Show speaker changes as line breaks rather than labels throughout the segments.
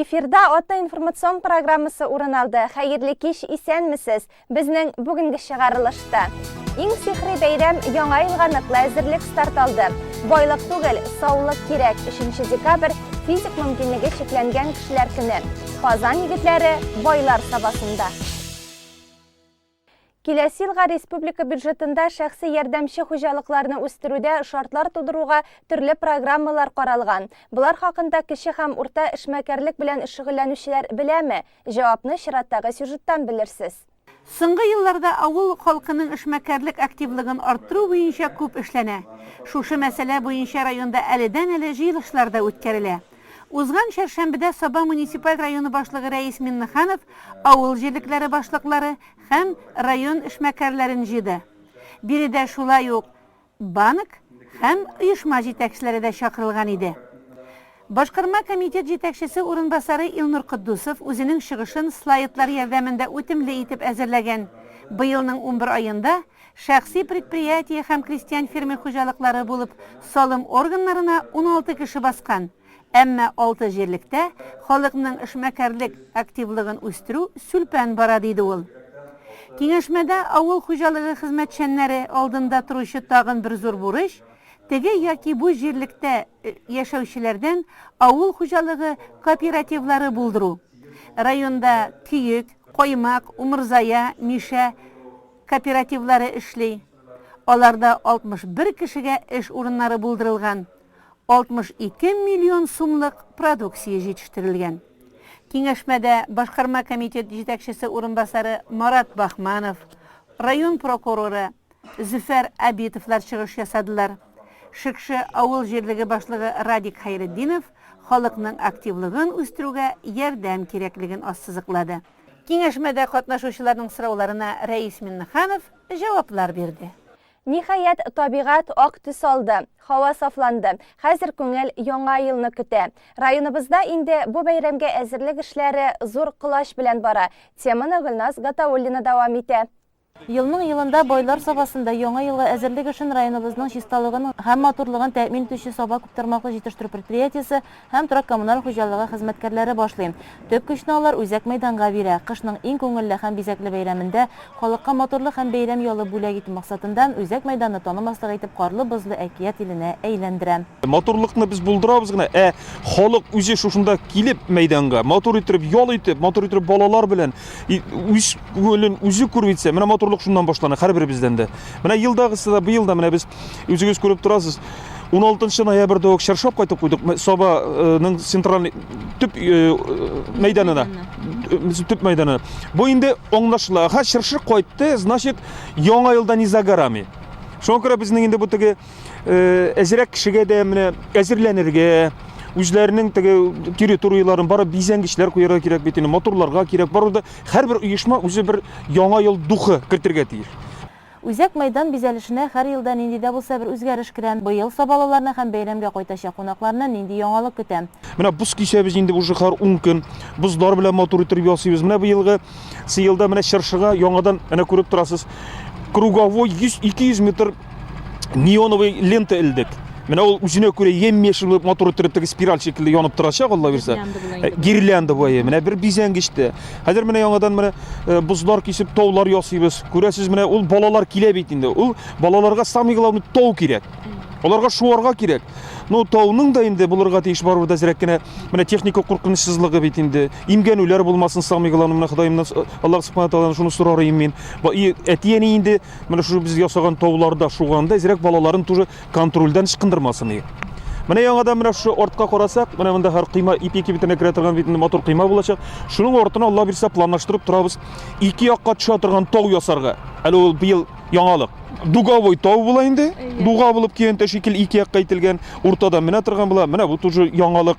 Эфирда Ата информацион программасы урын алды. Хәерле кич, исәнмесез. Безнең бүгенге чыгарылышта. Иң сихри бәйрәм яңа елга ныклы әзерлек старт алды. Байлык түгел, саулык кирәк. 3 декабрь физик мөмкинлеге чикләнгән кешеләр көне. Казан егетләре байлар сабасында. Киләсе елга республика бюджетында шәхси ярдәмче хуҗалыкларны үстерүдә шартлар тудыруга төрле программалар каралган. Болар хакында кече һәм урта эшмәкәрлек белән шөгыльләнүчеләр беләме? Җавапны чираттагы сюжеттан белерсез. Соңгы
елларда авыл халкының эшмәкәрлек активлыгын арттыру буенча күп эшләнә. Шушы мәсьәлә буенча районда әледән-әле җыелышлар да үткәрелә. Узган чәршәмбедә Саба муниципаль районы башлыгы Рәис Миннеханов авыл җирлекләре башлыклары һәм район эшмәкәрләрен җыйды. Биредә шулай ук банк һәм оешма җитәкчеләре дә чакырылган иде. Башкарма комитет җитәкчесе урынбасары Илнур Котдусов үзенең чыгышын слайдлар ярдәмендә үтемле итеп әзерләгән, быелның унбер аенда Шәхси предприятие һәм крестьян фермер хуҗалыклары булып салым органнарына уналты кеше баскан, әмма алты җирлектә халыкның эшмәкәрлек активлыгын үстерү сүлпән бара, диде ул. Киңәшмәдә авыл хуҗалыгы хезмәтчәннәре алдында торучы тагын бер зур бурыч, теге яки бу җирлектә яшәүчеләрдән авыл хуҗалыгы кооперативлары булдыру. Районда Көек, Каймак, Умырзая, Мишә, кооперативлары эшли, аларда 61 кешегә эш урыннары булдырылган, 62 миллион сумлык продукция җитештерелгән. Киңәшмәдә башкарма комитет җитәкчесе урынбасары Марат Бахманов, район прокуроры Зөфәр Абитовлар чыгыш ясадылар. Шекше авыл җирлеге башлыгы Радик Хәйретдинов халыкның активлыгын үстерүгә ярдәм кирәклеген ассызыклады. Киңәшмәдә катнашучыларның сорауларына Рәис Миннеханов җаваплар бирде. Ниһаять,
табигать ак төс алды, һава сафланды. Хәзер күңел Яңа елны көтә. Районыбызда инде бу бәйрәмгә әзерлек эшләре зур колач белән бара. Теманы Гөлназ Гатауллина дәвам итә. Елның-елында
Байлар Сабасында Яңа елга әзерлек эшен районыбызның чисталыгын һәм матурлыгын тәэмин итүче Саба күптармаклы җитештерү предприятиесе һәм торак-коммуналь хуҗалыгы хезмәткәрләре башлый. Төп көчне алар үзәк мәйданга бирә. Кышның иң күңелле һәм бизәкле бәйрәмендә халыкка матурлык һәм бәйрәм ялы бүләк итү максатында үзәк мәйданны танымаслык итеп карлы-бозлы әкият иленә әйләндерә. Матурлыкны без
булдырабыз гына, ә халык үзе шушында килеп мәйданга, матур итеп ял итеп, матур итеп балалар белән үз күңелен үзе күрү итсә, менә матурлык шуннан башлана һәрберебездән дә. Менә елдагысы да быел да менә без үзегез күреп торасыз, 16 ноябрьдә үк чаршап кайтып куйдык Сабаның центральный төп мәйданына. Төп мәйданы. Бу инде аңлашыла. Ха, чыршы кайтты, значит, яңа елда не за горами. Шуңа күрә безнең инде бу теге әзерәк кешегә дә менә әзерләнергә үзләренең теге территорияләрен бары бизәнгечләр куярга кирәк бит инде моторларга кирәк баруда һәрбер оешма үзе бер яңа ел духы кертергә тиеш Үзәк
мәйдан бизәлешенә һәр елда нинди дә булса бер үзгәреш керә. Быел сабалыларны һәм бәйрәмгә кайтачак кунакларны нинди яңалык көтә? Менә боз кисәбез
инде уже һәр 10 көн. Бозлар белән матур итеп ясыйбыз. Менә быелгы сыелда менә чыршыга яңадан менә күреп торасыз. Круговой 100-200 метр неоновый лента элдек. Менә ул үзенә күрә ем-ешел булып матур иттереп теге спираль шикелле янып торачак, Алла бирсә. Э, гирлянда буе. Менә бер бизәнгеч тә. Хәзер менә яңадан менә э, бозлар кисеп таулар ясыйбыз. Күрәсез, менә ул балалар килә бит инде. Ул балаларга самый главный тау кирәк. Аларга шуарга кирәк. Ну, тауның да инде булырга тиеш барыбер дә зирәк кенә менә техника куркынычсызлыгы бит инде. Имгәнүләр булмасын, самый главный менә Ходаемнан э, Аллаһ субхана тааладан шуны сорарым мин. Әти-әни инде Менә шушы без ясаган тауларда шуганда әзрәк балаларын тоже контрольдән ычкындырмасын иде. Менә яңадан менә шушы артка карасак, менә монда һәр койма ипи кибетенә керә торган бит матур койма булачак. Шуның артына Алла бирсә планлаштырып торабыз. Ике якка төшә торган тау ясарга. Әле ул быел яңалык. Дуговой тау була инде. Дуга булып киянтә шикел ике якка ителгән, уртада менә торган була. Менә бу тоже яңалык.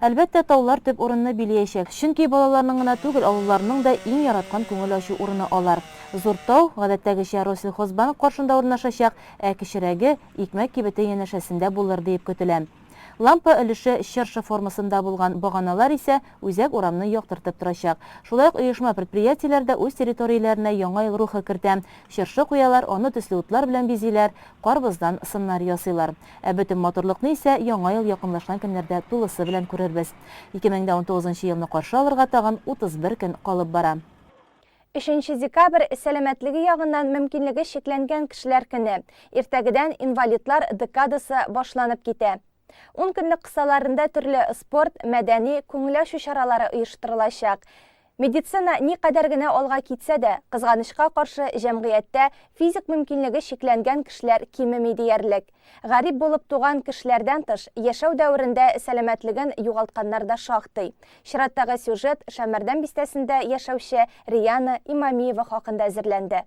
Әлбәттә,
таулар төп урынны билиячәк, чөнки балаларның гына түгел, олыларның да иң яраткан күңел ачу урыны алар. Зур тау, гадәттәгечә, Россельхозбанк каршында урнашачак, ә кечерәге, Икмәк кибете янәшәсендә булыр диеп көтелә. Лампа өлеше чыршы формасында булган баганалар исә үзәк урамны яктыртып торачак. Шулай ук оешма-предприятиеләр дә үз территорияләренә яңа ел рухы кертә, чыршы куялар, аны төсле утлар белән бизиләр, карбыздан сыннар ясыйлар. Ә бөтен матурлыкны исә Яңа ел якынлашкан көннәрдә тулысы белән күрербез. 2019 нчы елны каршы алырга тагын 31 көн калып бара. Өченче
декабрь, сәламәтлеге ягыннан мөмкинлеге чикләнгән кешеләр көне. Иртәгедән инвалидлар декадасы башланып китә. Ункөнлек кысаларында төрле спорт, мәдәни, күңел ачу чаралары оештырылачак. Медицина никадәр генә алга китсә дә, кызганычка каршы, җәмгыятьтә физик мөмкинлеге чикләнгән кешеләр кимеми диярлек. Гарип булып туган кешеләрдән тыш, яшәү дәверендә сәламәтлеген югалтканнар да шактый. Чираттагы сюжет Шәмәрдән бистәсендә яшәүче Риана Имамиева хакында әзерләнде.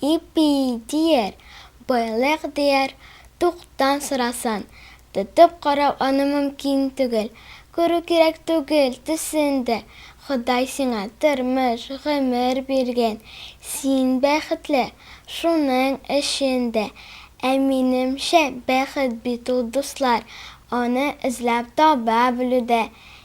Ипи дияр, байлык дияр, туктан сорасын, тотып карау аны мөмкин түгел, күрү кирәк түгел төсен дә, Ходай сиңа тормыш, гомер биргән, син бәхетле, шуның өчен дә. Ә минемчә, бәхет бит ул, дуслар, аны эзләп таба белүдә.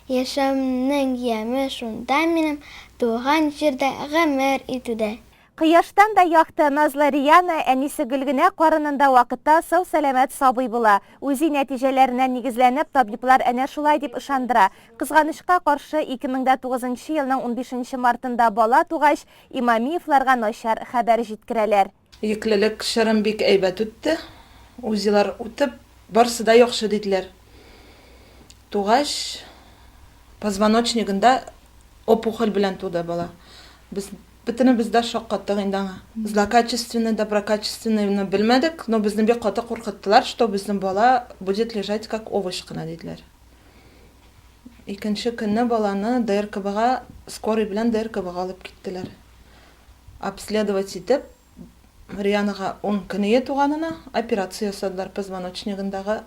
Яшәүмнең яме шунда минем, туган җирдә гомер итүдә. Кояштан да
якты, назлы Риана әнисе Гөлгенә карынында вакытта сау-сәламәт сабый була. УЗИ нәтиҗәләренә нигезләнеп, табиблар әнә шулай дип ышандыра. Кызганычка каршы, 2009 нчы елның унбишенче мартында бала тугач, Имамиевларга начар хәбәр җиткерәләр. Йөклелек
чорым бик әйбәт үтте. УЗИлар үтеп, барсы да яхшы диделәр. Тугач, позвоночнигында опухоль белән туды бала. Без Бөтенебез дә шаккаттык инде аңа. Злокачественный, доброкачественный ны белмәдек, но безне бик каты куркыттылар, что безнең бала будет лежать как овощ кына, диделәр. Икенче көнне баланы ДРКБга, скорый белән ДРКБга алып киттеләр. Обследовать итеп, Рианага ун көнее туганына, операция ясадылар, позвоночнигындагы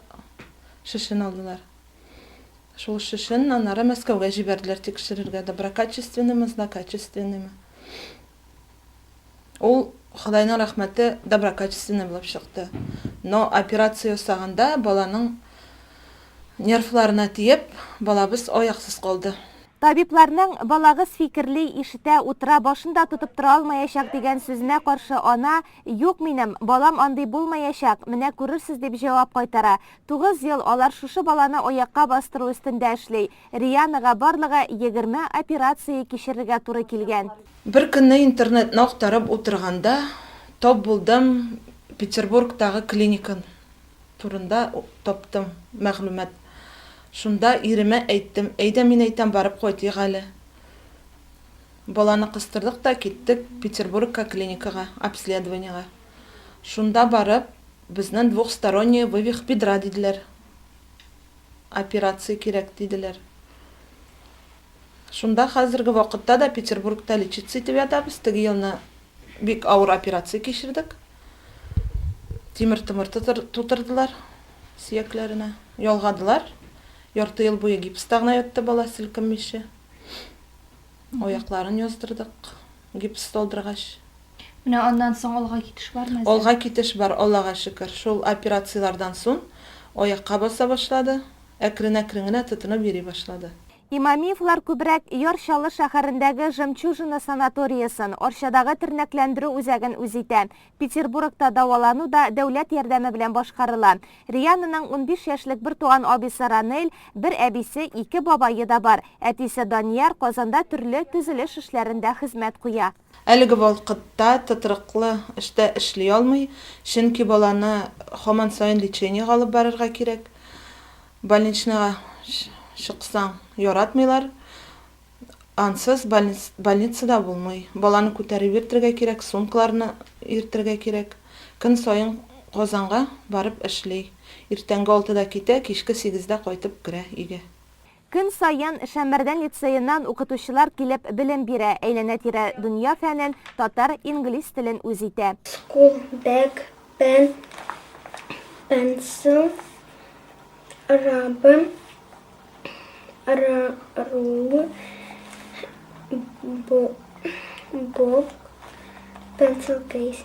шешен алдылар. Шул эш өчен аннары Мәскәүгә җибәрделәр тикшерергә, доброкачественныймы, злокачественныймы. Ул, Ходайның рәхмәте, доброкачественный булып чыкты. Но операция ясаганда баланың нервларына тиеп, балабыз аяксыз калды. Табибларның,
Балагыз фикерли, ишетә, утыра, башын да тотып тора алмаячак, дигән сүзенә каршы ана, Юк минем, балам андый булмаячак, менә күрерсез, дип җавап кайтара. Тугыз ел алар шушы баланы аякка бастыру өстендә эшли. Рианага барлыгы егерме операция кичерергә туры килгән. Бер көнне
интернетны актарып утырганда тап булдым, Петербургтагы клиника турында таптым мәгълүмат. Шунда иремә әйттем, әйдә, мин әйтәм, барып кайтыйк әле. Баланы кыстырдык та киттек Петербургка клиникага, обследованиегә. Шунда барып. Безнен двухсторонняя вывих бедра диделәр. Операция кирәк диделәр. Шунда хәзерге вакытта да Петербургта лечиться итеп ятабыз. Теге елны бик авыр операция кичердек. Тимер томыр тутырдылар сөякләренә. Ялгадылар. Ярты ел буе гипста гына ятты бала, селкенмичә. Аякларын яздырдык. гипс салдыргач. Менә аннан
соң алга китеш бармы әзер? Алга китеш бар,
Аллага шөкер. Шул операцияләрдән сон аякка баса башлады, әкрен-әкрен генә тотынып йөри башлады. Имамиевлар
күбрәк Яр Чаллы шәһәрендәге Жемчужина санаториясен, Арчадагы тернәкләндерү үзәген үз итә. Петербургта дәвалану да дәүләт ярдәме белән башкарыла. Риананың унбиш яшьлек бертуган абисы Ранель, бер әбисе, ике бабае да бар. Әтисе Данияр Казанда төрле төзелеш эшләрендә хезмәт куя. Әлеге вакытта
тотрыклы эштә эшли алмый, чөнки баланы һаман саен лечениегә алып барырга кирәк. Больничныйга чыксаң, яратмыйлар. Ансыз больницада булмый. Баланы күтәреп йөртергә кирәк, сумкаларны йөртергә кирәк. Көн саен Казанга барып эшли. Иртәнге алтыда китә, кичке сигездә кайтып керә өйгә. Көн саен
Шәммәрдән лицееннан укытучылар килеп белем бирә, әйләнә-тирә дөнья фәнен, татар, инглиз телен үз итә. School bag,
pen, pencil, рабын, Рул, Боб, Pencil Case.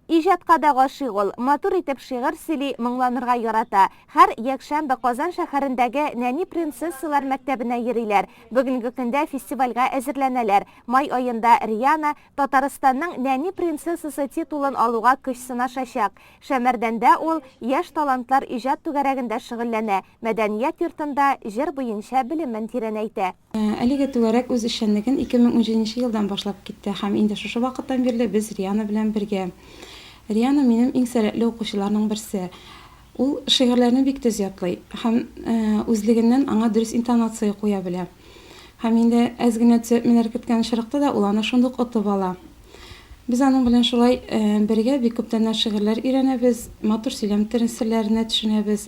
Иҗатка
да гашыйк ул, матур итеп шигырь сөйли, моңланырга ярата. Һәр якшәмбе Казан шәһәрендәге Нәни принцессалар мәктәбенә йөриләр. Бүгенге көндә фестивальгә әзерләнәләр. Май аенда Риана Татарстанның нәни принцессасы титулын алуга көч сынашачак. Шәмәрдәндә ул яшь талантлар иҗат түгәрәгендә шөгыльләнә. Мәдәният йортында җыр буенча белемен тирәнәйтә. Әлегә түгәрәк
үз эшчәнлеген 2017 нче елдан башлап китте һәм инде шушы вакыттан бирле без Риана белән бергә. Риана минем иң сәләтле укучыларның берсе. Ул шигырьләрне бик төз ятлый һәм үзлегеннән аңа дөрес интонация куя белә. Һәм инде әз генә төзәтмәләр керткән очракта да ул аны шундук отып ала. Без аның белән шулай бергә бик күптәннән шигырьләр өйрәнәбез, матур сөйләм тел серләренә төшенәбез.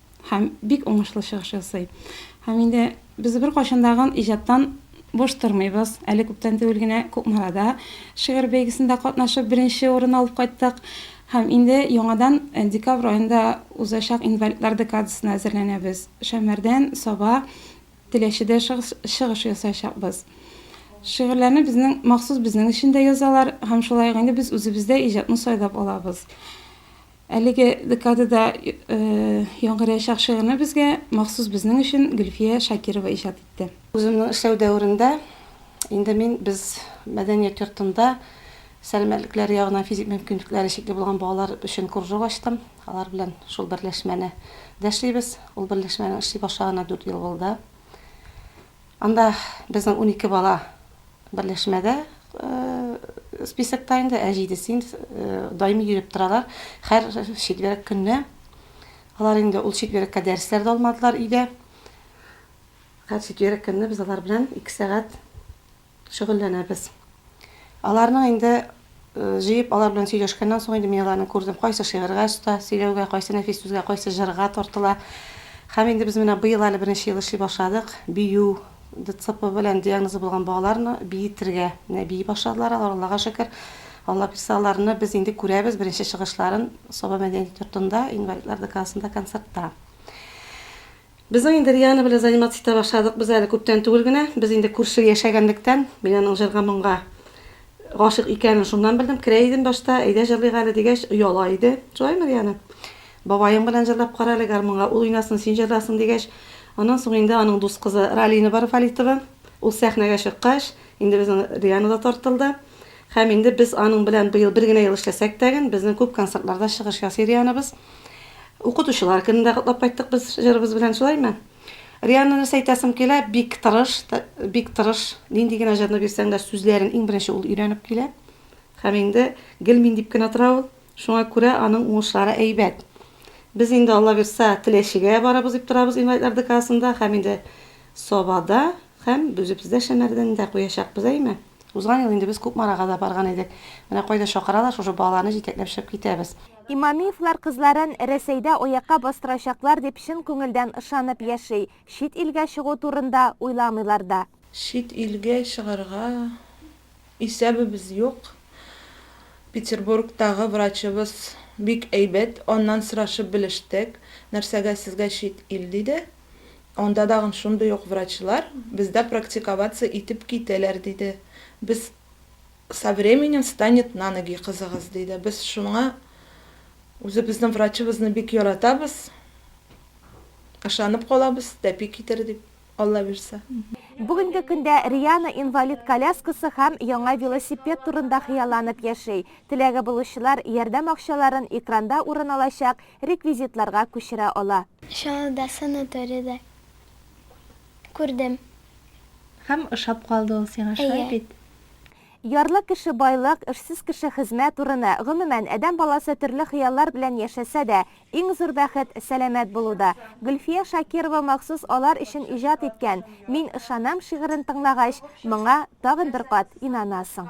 һәм бик уңышлы чыгыш ясый. Һәм инде без беркайчан да гын иҗаттан буш тормыйбыз. Әле күптән түгел генә Кукмарада шигырь бәйгесендә катнашып, беренче урын алып кайттык. Һәм инде яңадан э, декабрь аенда узачак инвалидлар декадасына әзерләнәбез. Шәмәрдән, Саба, Теләчедә чыгыш, чыгыш ясаячакбыз. Шигырьләрне безнең махсус безнең өчен дә язалар һәм шулай ук инде без үзебездә иҗатны сайлап алабыз. Әлеге декадада яңгыр яучак шигырьне безгә махсус безнең өчен Гөлфия Шакирова иҗат итте. Үземнең эшләү
дәверендә инде мин без мәдәният йортында сәламәтлекләре ягыннан физик мөмкинлекләре чикле булган балалар өчен кружок ачтым. Алар белән шул берләшмәне дә эшлибез. Ул берләшмәнең эшли башлаганына дүрт ел булды. Анда безнең унике бала берләшмәдә списокта инде, ә җидесе даими йөреп торалар. Хәр четверг көнне алар инде ул четвергка дәресләр дә алмадылар өйдә. Хәр четверг көнне без алар белән ике сәгать шөгыльләнәбез. Аларның инде җыеп, алар белән сөйләшкәннән соң инде мин аларны күрдем, кайсы шигырьгә оста, сөйләүгә, кайсы нәфис сүзгә, кайсы җырга тартыла. Һәм инде без менә быел әле беренче ел эшли башладык, бию, ДЦП белән диагнозы булган балаларны биетергә. Менә бии башладылар алар, Аллага шөкер. Алла бирсә, аларны без инде күрәбез беренче чыгышларын Саба мәдәният йортында, инвалидлар ДКАсында концертта. Безнең инде Риана белән заниматься итә башладык без әле күптән түгел генә. Без инде күрше яшәгәнлектән, мин аның җырга-моңга гашыйк икәнен шуннан белдем. Керә идем башта, әйдә җырлыйк әле дигәч, ояла иде. Шулаймы, Риана? Бабаең белән җырлап кара әле гармунга, ул уйнасын, син җырларсың, дигәч, аннан соң инде аның дус кызы Ралина бар, Валитова, ул сәхнәгә чыккач, инде безнең Риана да тартылды. Һәм инде без аның белән быел бер генә ел эшләсәк тәген, безнең күп концертларда чыгыш ясый Рианабыз. Укытучылар көнен дә котлап кайттык без җырыбыз белән, шулаймы? Рианны нәрсә әйтәсем килә, бик тырыш, бик тырыш. Нинди генә җырны бирсәң дә, сүзләрен иң беренче ул өйрәнеп килә. Һәм инде гел мин дип кенә тора ул. Шуңа күрә аның уңышлары әйбәт. Без инде, Алла бирса, Теләчегә барабыз дип торабыз инвалидлар ДКАсында һәм инде Сабада һәм Бөзепездә Шәмәрдән дә куячакбыз, әйме? Узган ел инде без Кукмарага да барган идек. Менә кайда чакыралар, шушы балаларны җитәкләп чыгып китәбез. Имамиевлар
кызларын Рәсәйдә аякка бастырачаклар дип чын күңелдән ышанып яши, чит илгә чыгу турында уйламыйлар да. Чит илгә
чыгарга исәбебез юк. Петербургтагы врачыбыз бик әйбәт, аннан сорашып белештек, нәрсәгә сезгә чит ил, диде. Анда тагын шундый ук врачлар бездә практиковаться итеп китәләр, диде. Без Со временем встанет на ноги кызыгыз, диде. Без шуңа үзебезнең врачыбызны бик яратабыз, ышанып калабыз, тәпи китер дип, Алла бирса. Бүгенге көндә
Риана инвалид коляскасы һәм яңа велосипед турында хыялланып яши. Теләге булучылар ярдәм акчаларын экранда урын алачак реквизитларга күчерә ала.
Чаллыда
санаторийда
күрдем.
Һәм ошап калды ул сиңа, шулай Әйе. бит? Ярлы
кеше байлык, эшсез кеше хезмәт урыны, гомумән, адәм баласы төрле хыяллар белән яшәсә дә, иң зур бәхет, сәламәт булуда. Гөлфия Шакирова махсус алар өчен иҗат иткән Мин ышанам шигырен тыңлагач, моңа тагын бер кат инанасың.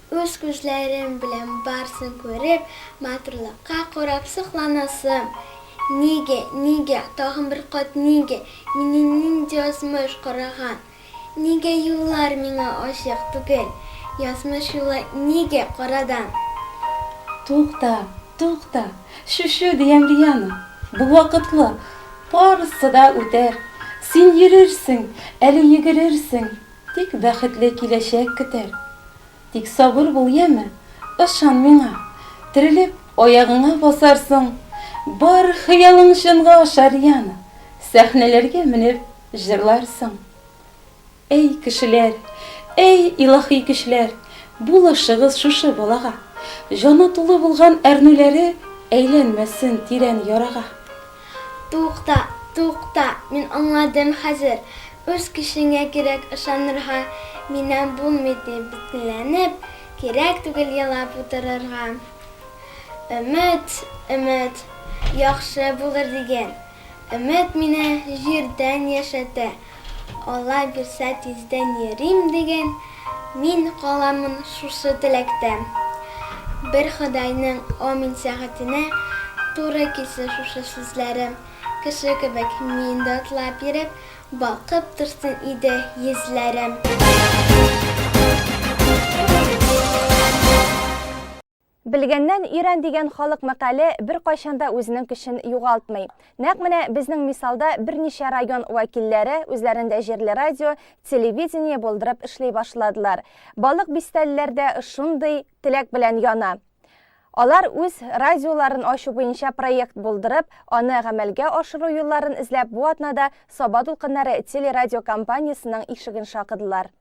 Үз күзләрем белән барсын күреп, матурлыкка карап сокланасым. Нигә, нигә, тагын бер кат нигә, мине нинди язмыш караган? Нигә юллар миңа ачык түгел? Язмыш юлы нигә карадан? Тукта,
тукта, шүшү дигән биянең, бу вакытлы, барысы да үтәр. Син йөрерсең, әле йөгерерсең, Тик бәхетле киләчәк көтәр. Тик сабыр бул, яме? Ышан миңа! Терелеп, аягыңа басарсың. Бар хыялың чынга ашар, яме? Сәхнәләргә менеп, җырларсың. Әй, кешеләр! Әй, илаһи көчләр! Булышыгыз шушы балага! Җаны тулы булган әрнүләре әйләнмәсен тирән ярага. Тукта,
тукта, мин аңладым хәзер, үз көчеңә кирәк ышанырга, миннән булмый дип битенләнеп, кирәк түгел елап утырырга. Өмет, өмет, яхшы булыр диген. Өмет мине җирдән яшәтә. Алла бирсә тиздән йөрим диген Мин каламын шушы теләктә Бер Ходайның амин сәгатенә Туры килсен шушы сүзләрем Кеше кебек мин дә атлап йөреп Балкып торсын иде йөзләрем.
Белгәннән өйрән дигән халык мәкале беркайчан да үзенең көчен югалтмый. Нәкъ менә безнең мисалда берничә район вәкилләре үзләрендә җирле радио, телевидение булдырып эшли башладылар. Балык бистәлеләр дә шундый теләк белән яна. Алар үз радиоларын ачу буенча проект булдырып, аны гамәлгә ашыру юлларын эзләп бу атнада Саба дулкыннары телерадиокомпаниясенең ишеген шакыдылар.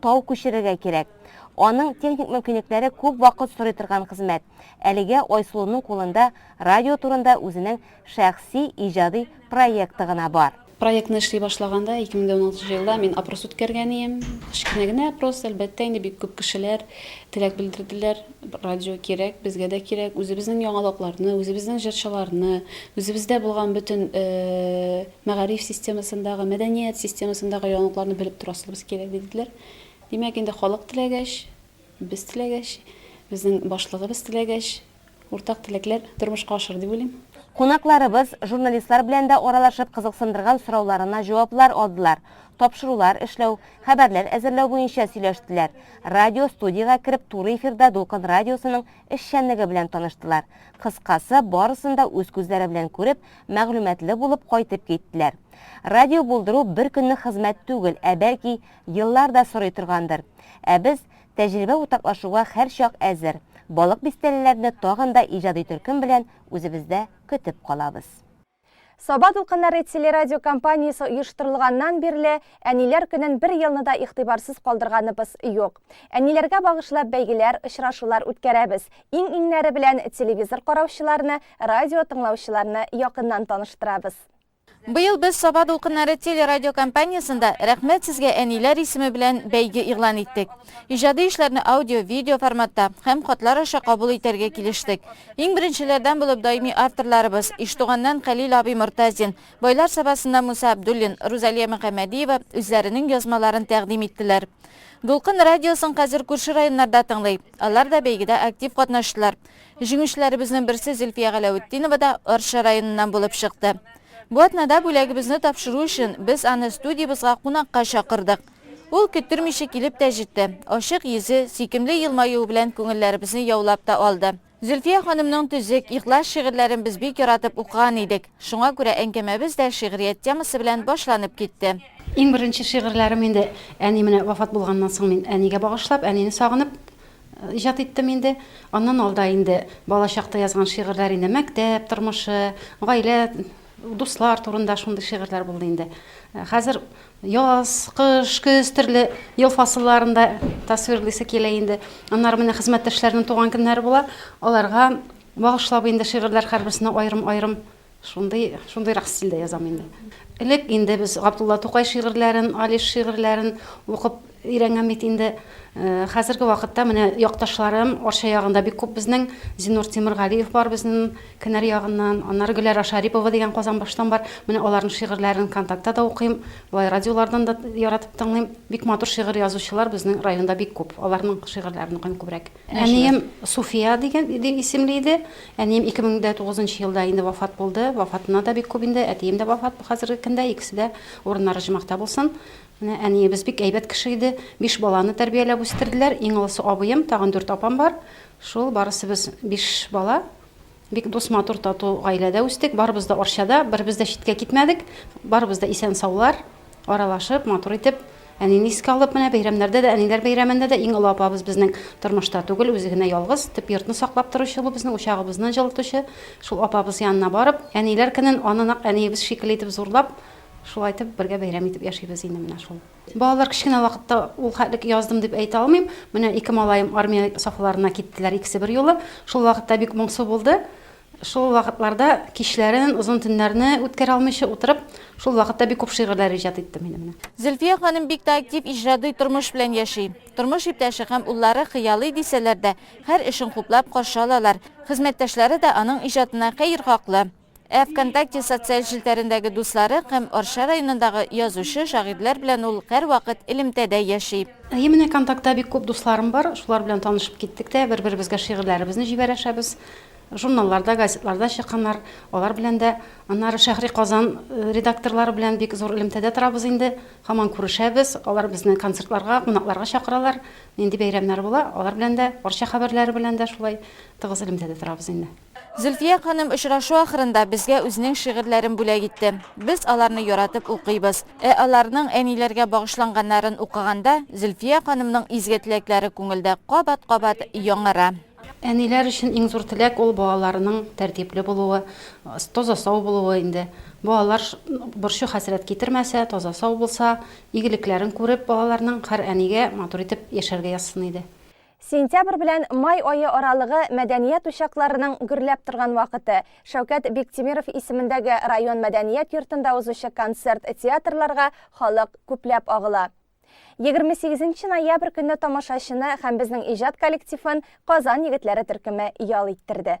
Тау күчерергә кирәк. Аның техник мөмкинлекләре күп вакыт сорый торган хезмәт. Әлегә Айсылуның кулында радио турында үзенең шәхси иҗади проекты гына бар. Проектны эшли
башлаганда, 2016 елда мин опрос үткәргән ием. Кечкенә генә опрос, әлбәттә, инде бик күп кешеләр теләк белдерделәр. Радио кирәк, безгә дә кирәк. Үзебезнең яңалыкларны, үзебезнең җырчыларны, үзебездә булган бөтен мәгариф системасындагы, мәдәният системасындагы яңалыкларны белеп торасыбыз кирәк, диделәр. Димәк, инде халык теләгәч, без теләгәч, безнең башлыгыбыз теләгәч, уртак теләкләр тормышка ашыр дип уйлыйм. Кунакларыбыз
журналистлар белән дә аралашып кызыксындырган сорауларына җаваплар алдылар, тапшырулар эшләү, хәбәрләр әзерләү буенча сөйләштеләр, радиостудиягә кереп туры эфирда Дулкын радиосының эшчәнлеге белән таныштылар, кыскасы, барысын да үз күзләре белән күреп, мәгълүматлы булып кайтып киттеләр. Радио булдыру бер көннең хезмәт түгел, ә бәлки, еллар да сорый торгандыр. Ә без, тәҗрибә уртаклашуга һәрчак әзер, балык бистәлеләрне тагын да иҗади төркем белән үзебездә көтеп калабыз. Саба дулкыннары телерадиокомпаниясе оештырылганнан бирле Әниләр көнен бер елны да игътибарсыз калдырганыбыз юк. Әниләргә багышлап бәйгеләр, очрашулар үткәрәбез. Иң-иңнәре белән телевизор караучыларны Радио тыңлаучыларны якыннан таныштырабыз.
Быел без Саба дулкыннары телерадиокомпаниясендә Рәхмәт сезгә, әниләр исеме белән бәйге игълан иттек. Иҗади эшләрне аудио, видео форматта һәм хатлар аша кабул итәргә килештек. Иң беренчеләрдән булып даими авторларыбыз, Иштуганнан Хәлил абый Мортазин, Байлар Сабасыннан Муса Абдуллин, Рузалия Мөхәммәдиева үзләренең язмаларын тәкъдим иттеләр. Дулкын радиосын хәзер күрше районнарда тыңлый. Алар да бәйгедә актив катнаштылар. Җиңүчеләребезнең берсе Зөлфия Галәветдинова да Арча районыннан булып чыкты. Бу атнада бүләгебезне тапшыру өчен без аны студиябезгә кунакка чакырдык. Ул көттермичә килеп тә җитте, ачык йөзе, сөйкемле елмаюы белән күңелләребезне яулап та алды. Зөлфия ханымның төзек, ихлас шигырьләрен без бик яратып укыган идек, шуңа күрә әңгәмәбез дә шигърият темасы белән башланып китте. Иң беренче
шигырьләрем инде әни менә вафат булганнан соң мин әнигә багышлап, әнине сагынып, Иҗат иттем инде. Аннан алда инде балачакта язган шигырьләр инде мәктәп тормышы, гаилә, дуслар турында шундый шигырьләр булды инде. Хәзер яз, кыш, көз төрле ел фасылларын да тасвирлыйсы килә инде. Аннары менә хезмәттәшләрнең туган көннәре була, аларга багышлап инде шигырьләр һәрберсенә аерым-аерым Шундый, шундыйрак стильдә язам инде. Элек инде без Габдулла Тукай шигырьләрен, Алиш шигырьләрен укып өйрәнгән бит инде. Э, хәзерге вакытта менә якташларым Арча ягында бик күп безнең Зинур Тимергалиев бар безнең кенәр ягыннан, аннары Гөләра Шарипова дигән Казанбаштан бар. Менә аларның шигырьләрен контактта да укыйм, болай радиолардан да яратып тыңлыйм. Бик матур шигырь язучылар безнең районда бик күп. Аларның шигырьләрен укыйм күбрәк. Әнием Суфия дигән дип исемле иде. Әнием 2009 нчы елда инде вафат булды. Вафатына да бик күп инде. Әтием дә вафат хәзерге көндә. Икесе дә урыннары җмахта булсын. Менә әниебез бик әйбәт кеше иде. Биш баланы тәрбияләп үстерделәр. Иң олысы абыем, тагын дүрт апам бар. Шул барысы без биш бала. Бик дус, матур, тату гаиләдә үстек. Барыбыз да Арчада, беребез дә читкә китмәдек. Барыбыз да исән-саулар, аралашып, матур итеп, әнине искә алып, менә бәйрәмнәрдә дә, әниләр бәйрәмендә дә иң олы апабыз безнең тормышта түгел, үзе генә ялгыз, төп йортны саклап торучы бу безнең, учагыбызны җылытучы. Шул апабыз янына барып, әниләр көнен аны нәкъ әниебез шикелле итеп зурлап, шулай итеп бергә бәйрәм итеп яшибез инде менә шул. Балалар кечкенә вакытта ул хәтлек яздым дип әйтә алмыйм. Менә ике малаем армия сафларына киттеләр икесе берьюлы. Шул вакытта бик моңсу булды. Шул вакытларда кичләрен, озын төннәрне үткәрә алмыйча утырып, шул вакытта бик күп шигырьләр иҗат иттем инде менә. Зөлфия ханым бик
тә актив иҗради тормыш белән яши. Тормыш иптәше һәм уллары хыялый дисәләр дә, һәр эшен хуплап каршы алалар. Хезмәттәшләре дә аның иҗатына хәер хаклы. Ә Вконтакте социаль челтәрендәге дуслары һәм Арча районындагы язучы, шагыйрьләр белән ул һәрвакыт элемтәдә яши. Әйе, менә Контактта
бик күп дусларым бар, шулар белән танышып киттек тә, бер-беребезгә шигырьләребезне җибәрәшәбез. Журналларда, газетларда чыкканнар, алар белән дә. Аннары Шәһри Казан редакторлары белән бик зур элемтәдә торабыз инде, һаман күрешәбез. Алар безне концертларга, кунакларга чакыралар. Нинди бәйрәмнәр була, алар белән дә, Арча хәбәрләре белән дә шулай тыгыз элемтәдә торабыз инде. Зөлфия ханым
очрашу ахырында безгә үзенең шигырьләрен бүләк итте. Без аларны яратып укыйбыз. Ә аларның әниләргә багышланганнарын укыганда, Зөлфия ханымның изге теләкләре күңелдә кабат-кабат яңара. Әниләр өчен
иң зур теләк ул балаларының тәртипле булуы, таза-сау булуы инде. Балалар борчу-хәсрәт китермәсә, таза-сау булса, игелекләрен күреп, балаларның һәр әнигә матур итеп яшәргә язсын иде. Сентябрь белән
май ае аралыгы мәдәният учакларының гөрләп торган вакыты. Шәүкәт Биктимиров исемендәге район мәдәният йортында узучы концерт-театрларга халык күпләп агыла. 28 нче ноябрь көнне тамашачыны һәм безнең иҗат коллективын Казан егетләре төркеме ял иттерде.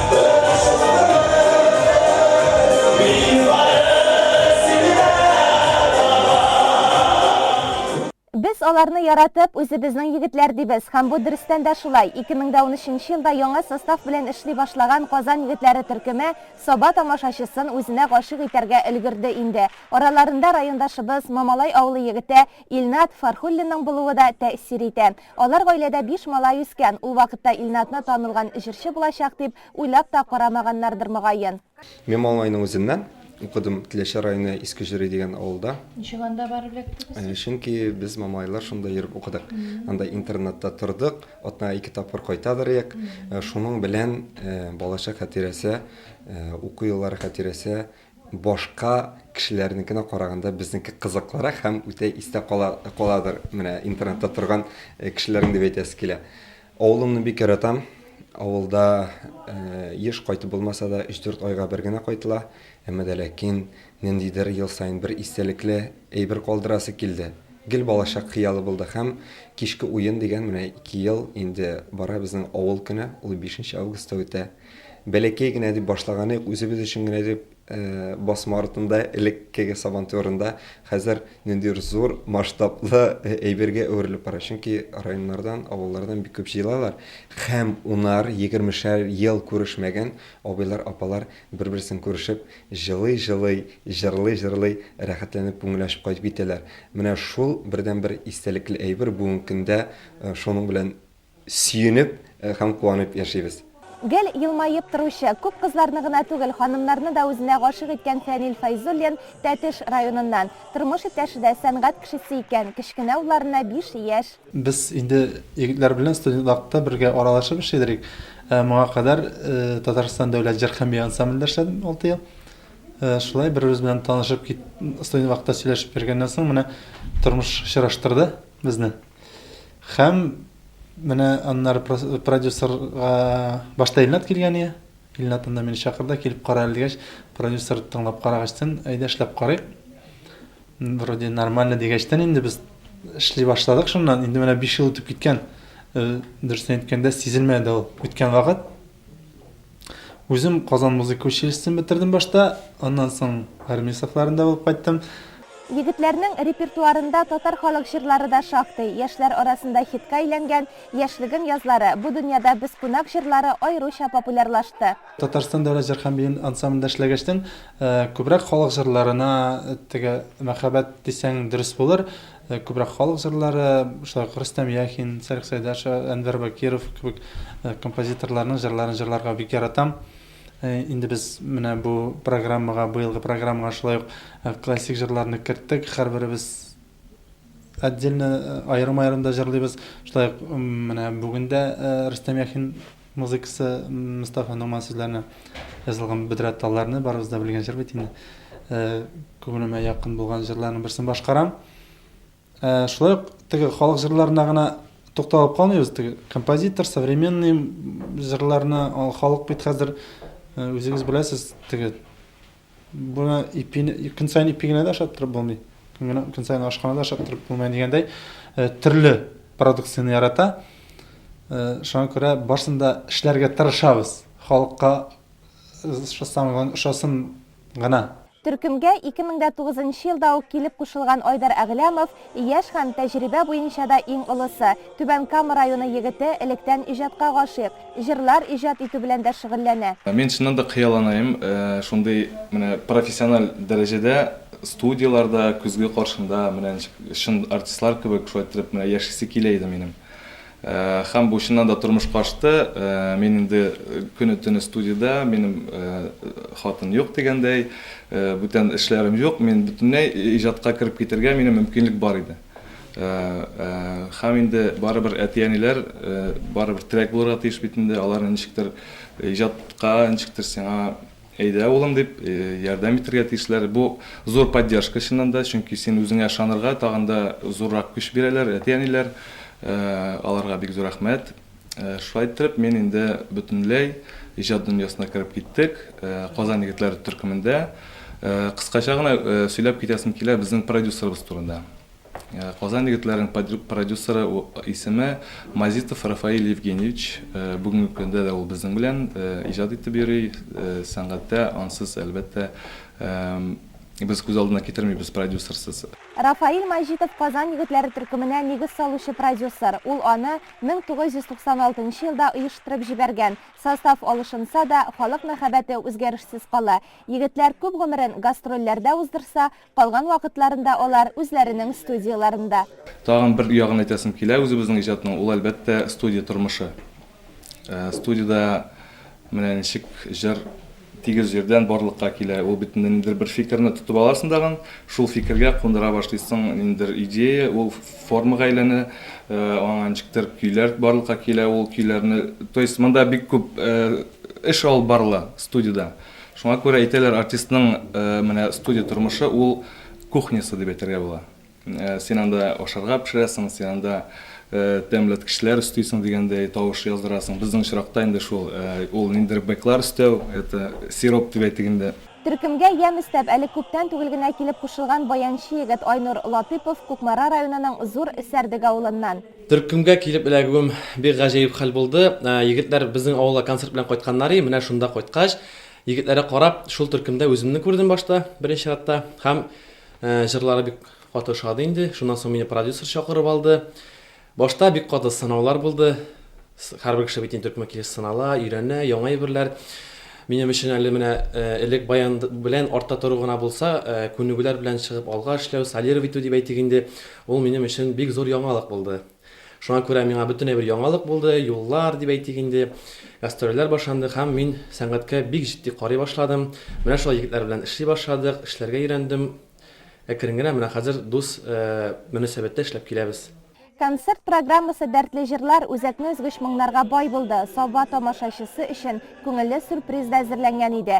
Без аларны яратып, үзебезнең егетләр дибез һәм бу дөрестән дә шулай. 2013 нче елда яңа состав белән эшли башлаган Казан егетләре төркеме Саба тамашачысын үзенә гашыйк итәргә өлгерде инде. Араларында райондашыбыз, Мамалай авылы егете Илнат Фархуллинның булуы да тәэсир итә. Алар гаиләдә биш малай үскән, ул вакытта Илназны танылган җырчы булачак дип уйлап та карамаганнардыр
мөгаен.
Мин Малайның
үзеннән
укыдым,
Теләче районы Иске Җөри дигән авылда. Ничек анда барып
эләктегез? Чөнки без
малайлар шунда йөреп укыдык. Анда интернатта тордык, атнага ике тапкыр кайтадыр идек. Шуның белән балачак хатирәсе, уку еллары хатирәсе. Башка кешеләрнекенә караганда безнеке кызыклырак һәм үтә истә кала каладыр менә интернетта торган кешеләрнең дип әйтәсе килә. Авылымны бик яратам. Авылда еш кайтып булмаса да, өч-дүрт айга бер генә кайтыла. Әмма дә ләкин ниндидер ел саен бер истәлекле әйбер калдырасы килде. Гел балачак хыялы булды һәм кичке уен дигән менә ике ел инде бара безнең авыл көне, ул бишенче августта үтә. Бәләкәй генә дип башлаганык, үзебез өчен генә дип, басма артында, элеккеге Сабантуерында, хәзер ниндидер зур масштаблы әйбергә әверелеп бара. Чөнки районнардан, авыллардан бик күп җыелалар һәм унар, егермешәр ел күрешмәгән абыйлар, апалар бер-берсен күрешеп, җылый-җылый, җырлый-җырлый, рәхәтләнеп, күңел ачып кайтып китәләр. Менә шул бердәнбер истәлекле әйбер, бүгенге көндә шуның белән Сөенеп һәм куанып яшибез. Гел елмаеп
торучы, күп кызларны гына түгел, ханымнарны да үзенә гашыйк иткән Фәнил Фәйзуллин, Тәтеш районыннан. Тормыш иптәше дә сәнгать кешесе икән, кечкенә улларына биш яшь. Без инде
егетләр белән студент вакытта бергә аралашып эшли идек. Моңа кадәр Татарстан дәүләт җыр һәм бию ансамблендә эшләдем алты ел. Шулай бер-беребез белән танышып, студент вакытта сөйләшеп йөргәннән соң, менә тормыш очраштырды безне. Хәм менә аннар продюсерга башта Илнат килгән ие. Илнат анда мине чакырды, килеп кара әле дигәч, продюсер тыңлап карагачтын, әйдә эшләп карыйк. Вроде нормально дигәчтен инде без эшли башладык шуннан. Инде менә 5 ел үтеп киткән. Э, дөресен әйткәндә, сизелмәде ул үткән вакыт. Үзем Казан музыка училищесын бетердем башта, аннан соң армия сафларында булып кайттым. Егетләрнең
репертуарында татар халык җырлары да шактый. Яшьләр арасында хитка әйләнгән Яшьлегем язлары, Бу дөньяда без кунак җырлары аеруча популярлашты. Татарстан дәүләт җыр
һәм бию ансамблендә эшләгәчтен, күбрәк халык җырларына теге мәхәббәт дисәң дөрес булыр. Ә күбрәк халык җырлары, шулай ук Рөстәм Яхин, Сәрик Сәйдәшев, Әнвәр Бакиров кебек композиторларның җырларын җырларга бик яратам. Инде без менә бу программага, быелгы программага шулай ук классик җырларны керттек. Һәрберебез отдельно, аерым-аерым да җырлыйбыз. Шулай ук менә бүген дә Рөстәм Яхин Музыкасы Мостафа Нугман сүзләренә язылган Бөдрә талларны барыбыз да белгән җыр бит инде. Күңелемә якын булган җырларның берсен башкарам. Шулай ук теге халык җырларына гына тукталып калмыйбыз. Теге композитор, современный җырларны халык бит хәзер үзегез беләсез, теге Буны ипине көн саен ипи генә дә ашап торып булмый. Көн генә көн саен ашханада ашап торып булмый дигәндәй, э, төрле продукцияне ярата. Э, шуңа күрә барсын да эшләргә тырышабыз. Халыкка ошасын гына, ошасын гына. Төркемгә
2009 елда ук килеп кушылган Айдар Әгъләмов Яшь һәм тәҗрибә буенча да иң олысы, Түбән Кама районы егете, электән иҗатка гашыйк, җырлар иҗат итү белән дә шөгыльләнә. Мин чыннан да
хыялланыйм, шундый менә профессиональ дәрәҗәдә студияләрдә, көзге каршында, менә ничек чын артистлар кебек шулай иттереп менә яшисе килә иде минем. Һәм бу чыннан да тормышка ашты. Мин инде көне-төне студиядә, минем хатын юк дигәндәй, бүтән эшләрем юк, мин бөтенләй иҗатка кереп китәргә минем мөмкинлек бар иде. Һәм инде барыбер әти-әниләр барыбер терәк булырга тиеш бит инде, алар ничектер иҗатка, ничектер сиңа. Әйдә, улым, дип, ярдәм итәргә тиешләр. Бу, зур поддержка, чыннан да, чөнки син үзеңә ышанырга тагын да зуррак көч бирәләр әти-әниләр. Аларга бик зур рәхмәт. Шулай иттереп, мин инде бөтенләй иҗат дөньясына кереп киттек. Казан егетләре төркемендә. Кыскача гына сөйләп китәсем килә безнең продюсерыбыз турында. Казан егетләренең продюсеры исеме Мазитов Рафаэль Евгеньевич. Бүгенге көндә дә ул безнең белән иҗат итеп йөри. Сәнгатьтә ансыз, әлбәттә, без күз алдына китермибез продюсерсыз. Рафаэль Маҗитов
Казан егетләре төркеменә нигез салучы продюсер. Ул аны 1996 нчы елда оештырып җибәргән. Состав алышынса да, халык мәхәббәте үзгәрешсез кала. Егетләр күп гомерен гастрольләрдә уздырса, Калган вакытларында алар, үзләренең студияләрендә. Тагын бер
ягын әйтәсем килә үзебезнең иҗатның, ул, әлбәттә, студия тормышы. Студиядә менә ничек җыр тигез җирдән барлыкка килә. Ул бит ниндидер бер фикерне тотып аласың тагын, шул фикергә кундыра башлыйсың ниндидер идея, ул формага әйләнә, аңа ничектер көйләр барлыкка килә, ул көйләрне, то есть монда бик күп эш алып барыла студиядә. Шуңа күрә әйтәләр, артистның менә студия тормышы ул кухнясы дип әйтергә була. Син анда ашарга пешерәсең, син анда тәмләткечләр өстисең дигәндәй, тавыш яздырасың. Безнең очракта инде шул ул ниндидер бэклар өстәү, это сироп дип әйтик инде. Төркемгә ямь
өстәп, әле күптән түгел генә килеп кушылган баянчы егет Айнур Латыйпов Кукмара районының Зур Сәрдек авылыннан. Төркемгә килеп
эләгүем бик гаҗәеп хәл булды. Егетләр безнең авылга концерт белән кайтканнар и, менә шунда кайткач, егетләргә карап, шул төркемдә үземне күрдем башта, беренче чиратта. Һәм җырлары бик каты ошады инде. Шуннан соң мине продюсер чакырып алды. Башта бик каты сынаулар булды. Һәрбер кеше бит инде төркемгә килеш сынала, өйрәнә, яңа әйберләр. Минем өчен әле менә элек баян белән артта тору гына булса, күнегүләр белән чыгып алга эшләү, солировать итү дип әйтик инде, Ул минем өчен бик зур яңалык булды. Шуңа күрә миңа бөтенләй бер яңалык булды, юллар, дип әйтик инде, гастрольләр башланды һәм мин сәнгатькә бик җитди карый башладым. Менә шулай егетләр белән эшли башладык, эшләргә өйрәндем. Әкрен генә менә хәзер дус мөнәсәбәттә эшләп киләбез. Концерт
программасы дәртле җырлар, үзәкне өзгеч моңнарга бай булды. Саба тамашачысы өчен күңелле сюрприз да әзерләнгән иде.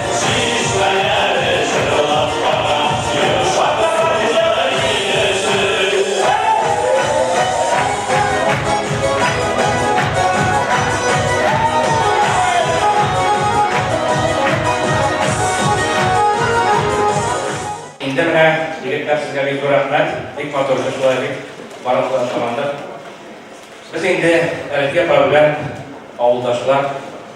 Инде менә егетләр сезгә бик зур рәхмәт, бик матур шулай бик барлыклар шамандык. Без инде Әлфия апа белән авылдашлар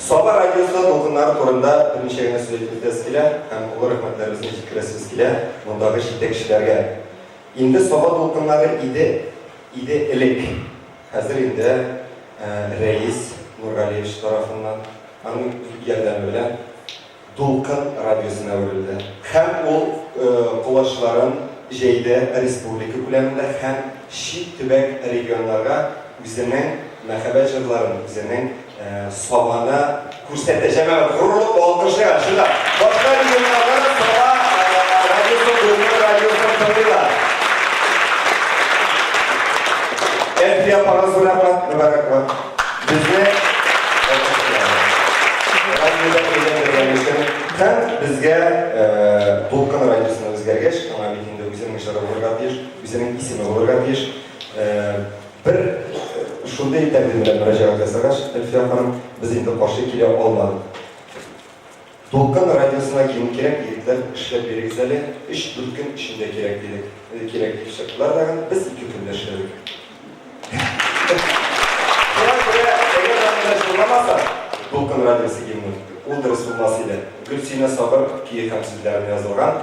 Саба радиосы дулкыннары турында берничә генә сүз әйтәбез килә һәм олы рәхмәтләребезне җиткерәсебез килә мондагы җитәкчеләргә. Инде Саба дулкыннары иде, иде элек. Хәзер инде Рәис Нургалиевич тарафыннан, аның ярдәме белән. Дулкын радиосына әверелде һәм ул колачларын җәйде республика күләмендә һәм чит төбәк регионнарга үзенең мәхәббәт җырларын, үзенең Сабаны күрсәтә. Җәмәгать, горурлык алкышлыйгыз, чынлап, башка регионнарда да Саба радиосын, Дулкын радиосын тыңлыйлар. Әлфия апагыз, бу рәхмәт, мөбарәк булсын. Безне радиода әйләндергәнегездән һәм безгә Дулкын радиосына үзгәргәч, аңа бит инде үзенең җыры булырга тиеш, үзенең исеме булырга тиеш. Бер шундый тәкъдим белән мөрәҗәгать ясагач, Әлфия ханым, без инде каршы килә алмадык. Дулкын радиосына кем кирәк, егетләр, эшләп бирегез әле, өч-дүрт көн эчендә кирәк, дидек. Кирәк, дип чыктылар тагын, без ике көндә эшләдек. Шуңа күрә, әгәр дә монда җырламаса, Дулкын радиосы гимны, ул дөрес булмас иде. Гөлсинә Сабыр көе һәм сүзләренә язылган.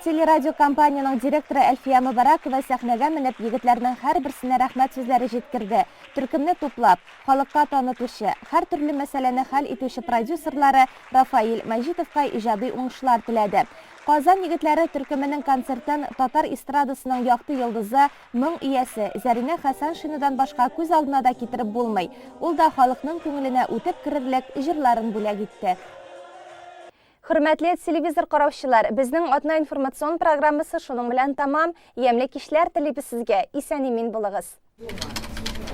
Телерадиокомпаниянең директоры Әлфия Мөбарәкова сәхнәгә менеп, егетләрнең һәрберсенә рәхмәт сүзләре җиткерде. Төркемне туплап, халыкка танытучы, һәртөрле мәсьәләне хәл итүче продюсерлары Рафаиль Мәҗитовка иҗади уңышлар теләде. Казан егетләре төркеменең концертын татар эстрадасының якты йолдызы, Моң иясе, Зәринә Хәсәншинадан башка күз алдына да китереп булмый. Ул да халыкның күңеленә үтеп керерлек җырларын бүләк итте. Хөрмәтле телевизор караучылар, безнең атна информацион программасы шуның белән тәмам. Ямьле кичләр телибез сезгә, исән-имин булыгыз!